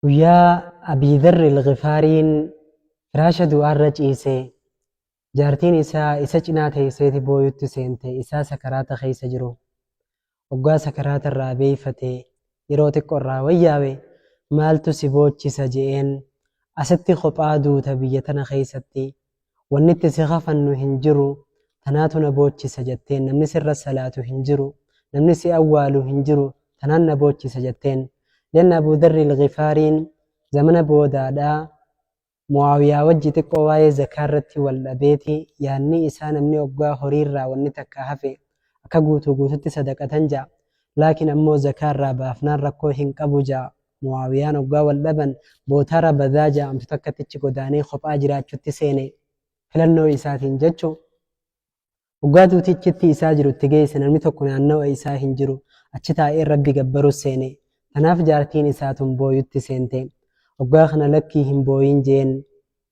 Guyyaa Abii Dharr Al-Ghifaariin firaasha du'aarra ciise, jaartiin isaa isa cinaa teesseeti booyutti seente, isaa sakaraata keessa jiru. Oggaa sakaraata irraa beeyfate, yeroo xiqqo irraa wayyaawe, maaltu si boochisa je'een, asitti kophaa duuta biyya tana keessatti, wanni itti si kafannu hin jiru tanaatu na boochisa jatteen namni sirra salaatu hin jiru namni si awwaalu hin jiru tanaan na boochisa jatteen lianna abuu darri ilgifaariin zamana boodaadhaa muwaawiyaa wajji xiqqoo waa'ee zakaa irratti wal dhabeeti yaanni isaa namni oggaa horii irraa wanni takka hafe akka guutuu guututti sadaqatan ja'a laakiin ammoo zakaa irraa baafnaan rakkoo hin qabu ja'a Mu'aawiyaan oggaa wal dhaban bootaa Rabazaa ja'amtu takkatti achi godaanee kophaa jiraachutti seene. Filannoo isaatiin jechu. Oggaa duuti achitti isaa jiru itti geesse namni tokko naannawa isaa hin jiru. Achi taa'ee Rabbi gabbarus seene. Tanaaf jaartiin isaa tun booyutti seente. Oggaa kana lakkii hin booyin jeen.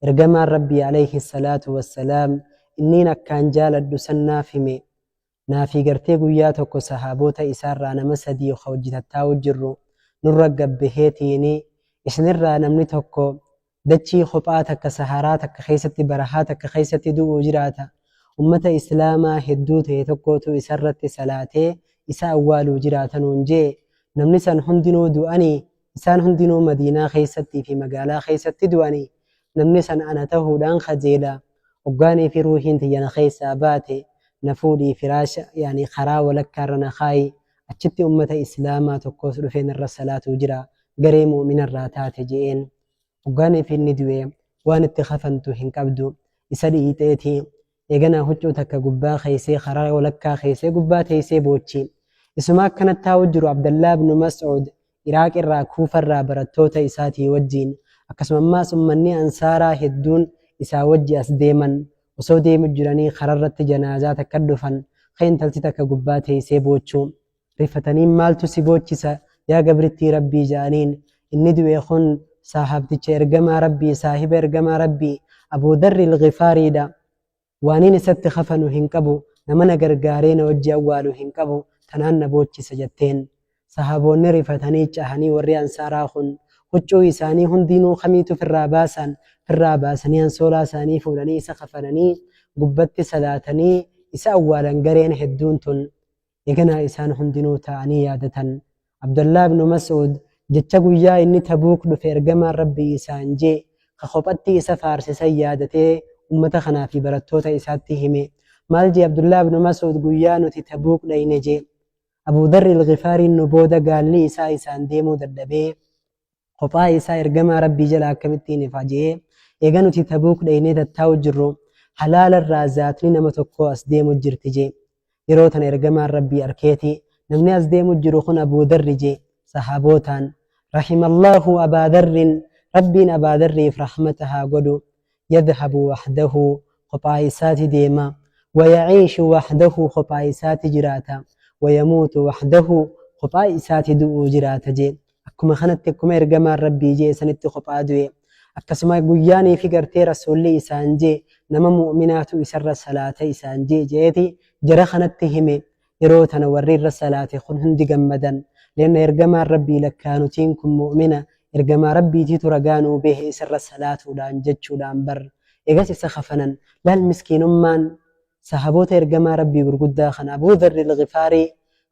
Ergamaan Rabbii alayhi salaatu wassalaam inniin akkaan jaaladhu san naaf hime. Naafii gartee guyyaa tokko sahaaboota isaarraa nama sadii ka wajji tattaa'uu jirru nurra gabbaheetiini isinirraa namni tokko dachii kophaa takka saharaa takka keessatti barahaa takka keessatti du'uu jiraata ummata islaamaa hedduu ta'e tokkootu isarratti salaatee isa awwaaluu jiraata nuun je'e namni san hundinuu du'anii Isaan hundinuu Madiinaa keessattii fi magaalaa keessatti du'anii, namni san ana tahuudhaan kajeela, hoggaanii fi ruuhiin tiyya na keessaa baate, na fuudhii firaasha, yaani karaa walakkaa irra na kaayi, achitti ummata islaamaa tokkoos dhufee narra salaatuu jira, garee mu'umina irraa taate je'een. Hoggaaniif inni du'e waan itti kafantu hin qabdu. Isa dhiiteeti. Eeganaa huccuu takka gubbaa keeysee karaa walakkaa keeysee gubbaa teeysee boochi. Isuma akkana taa'uu jiru Abdallaah ibnu Mas'uud Iraaq irraa Kuufa irraa barattoota isaatii wajjiin akkasuma ammaas ummanni Ansaaraa hedduun isaa wajji as deeman. Osoo deemu jiranii kararratti janaazaa takka dhufan ka intalti takka gubbaa teeysee boochu. rifataniin maaltu si boochisa yaa gabrittii rabbii ja'aniin inni du'e kun saahaabticha ergamaa rabbii saahiba ergamaa rabbii abuu darri ilgifaariidha waaniin isatti kafanu hin qabu nama na gargaaree na wajji awwaalu hin qabu tanaan na boochisa jatteen sahaaboonni rifatanii cahanii warri ansaaraa kun huccuu isaanii hundiinuu kamiitu firraa baasaan firraa baasanii ansoolaa isaanii fuudhanii isa kafananii gubbatti salaatanii isa awwaalan gareen hedduun tun Eganaa isaan hundinuu taa'anii yaadatan. Abdallah ibn Mas'ud jecha guyyaa inni Tabuuk dhufe ergamaan Rabbii isaan jee ka kophatti isa faarse san yaadatee ummata kanaa fi barattoota isaatti hime. Maal jee Abdullah ibn Mas'ud guyyaa nuti Tabuuk dhayne jee. Abu Dharr al-Ghifaariin nu booda gaalli isaa isaan deemuu dadhabee. kophaa isaa ergamaa rabbii jala akkamittiin ifa je'ee eega nuti tabuuk dhaynee tattaa'u jirru halaala irraa zaatni nama tokkoo as deemu jirti jee yeroo tana ergamaan rabbii arkeeti namni as deemu jiru kun abuu darri jee sahaabootaan rahimallahu abaa darrin rabbiin abaa darriif rahmata haa godhu yadhabu wahdahu kophaa isaati deema wayaciishu wahdahu kophaa isaati jiraata wayamuutu wahdahu kophaa isaati du'u jiraata jee akkuma kanatti akkuma ergamaan rabbii jee sanitti kophaa du'e akkasuma guyyaanii fi gartee rasuulli isaan jee nama mu'minaatu isarra salaata isaan jee jeeti jara kanatti hime Yeroo tana warri irra salaate kun hundi gammadan. Leenna Ergamaan Rabbii lakkaa nutiin kun mu'umina, Ergamaa Rabbiitiitu ragaa nuu beehe isa irra salaatuudhaan jechuudhaan bar. Eegas isa kafanan. Laal miskiinummaan Sahaboota Ergamaa Rabbii gurguddaa kana Abuu Dharri Al-Ghifaarii,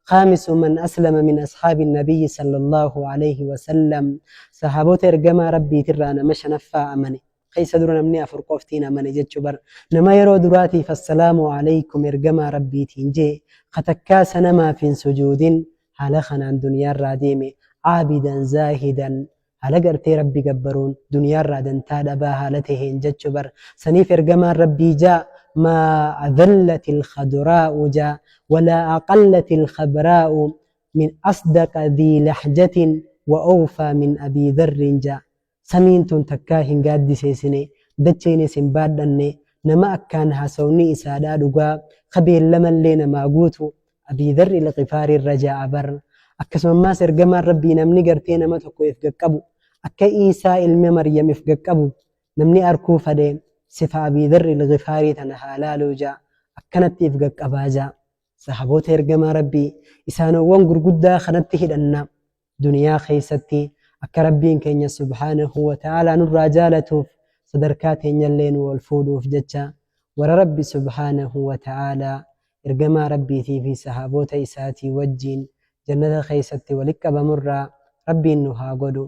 Khaamisu man aslama min ashaabi Nabiyyi sallallaahu aleyhi wa sallam, Sahaboota Ergamaa Rabbiitirraa nama shanaffaa amane. keessa dura namni afur qoftiin amane jechu bar nama yeroo duraatiif assalaamu alaykum ergamaa rabbiitiin jee ka takkaa sanamaaf hin sujuudin haala kanaan duniyaarraa deeme caabidan zaahidan haala gartee rabbi gabbaruun duniyaarraa dantaa dhabaa haala taheen jechu bar saniif ergamaan rabbii jaa maa adallati ilkhaduraa'u jaa walaa aqallati ilkhabraa'u min asdaqa dhii lahjatin wa awfaa min abii dharrin jaa Samiin tun takkaa hin gaaddiseesine, dacheenis hin baadhanne, nama akkaan haasawni isaadhaa dhugaa, ka beellamallee namaa guutu, Abii Dharr Ilghifaarii irra ja'a bar. Akkasumammaas Ergamaan Rabbii namni gartee nama tokko if gaqqabu, akka Iisaa ilma Maryam if gaqqabu, namni arkuu fadhe, sifa Abii Dharr Ilghifaarii tana haa laaluu ja'a, akkanatti if gaqqabaa ja'a. Sahaabota Ergamaa Rabbii, Isaanowwan gurguddaa kanatti hidhanna. Duniyaa keessatti akka Rabbiin keenya subhaanahu wa ta'aalaa nurraa jaalatuuf sadarkaa teenyallee nuu ol fuudhuuf jecha warra Rabbi subhaanahu wa ta'aalaa, Ergamaa Rabbiitii fi sahaaboota isaatii wajjiin jannata keessatti walitti qabamurraa Rabbiin nu haa godhu.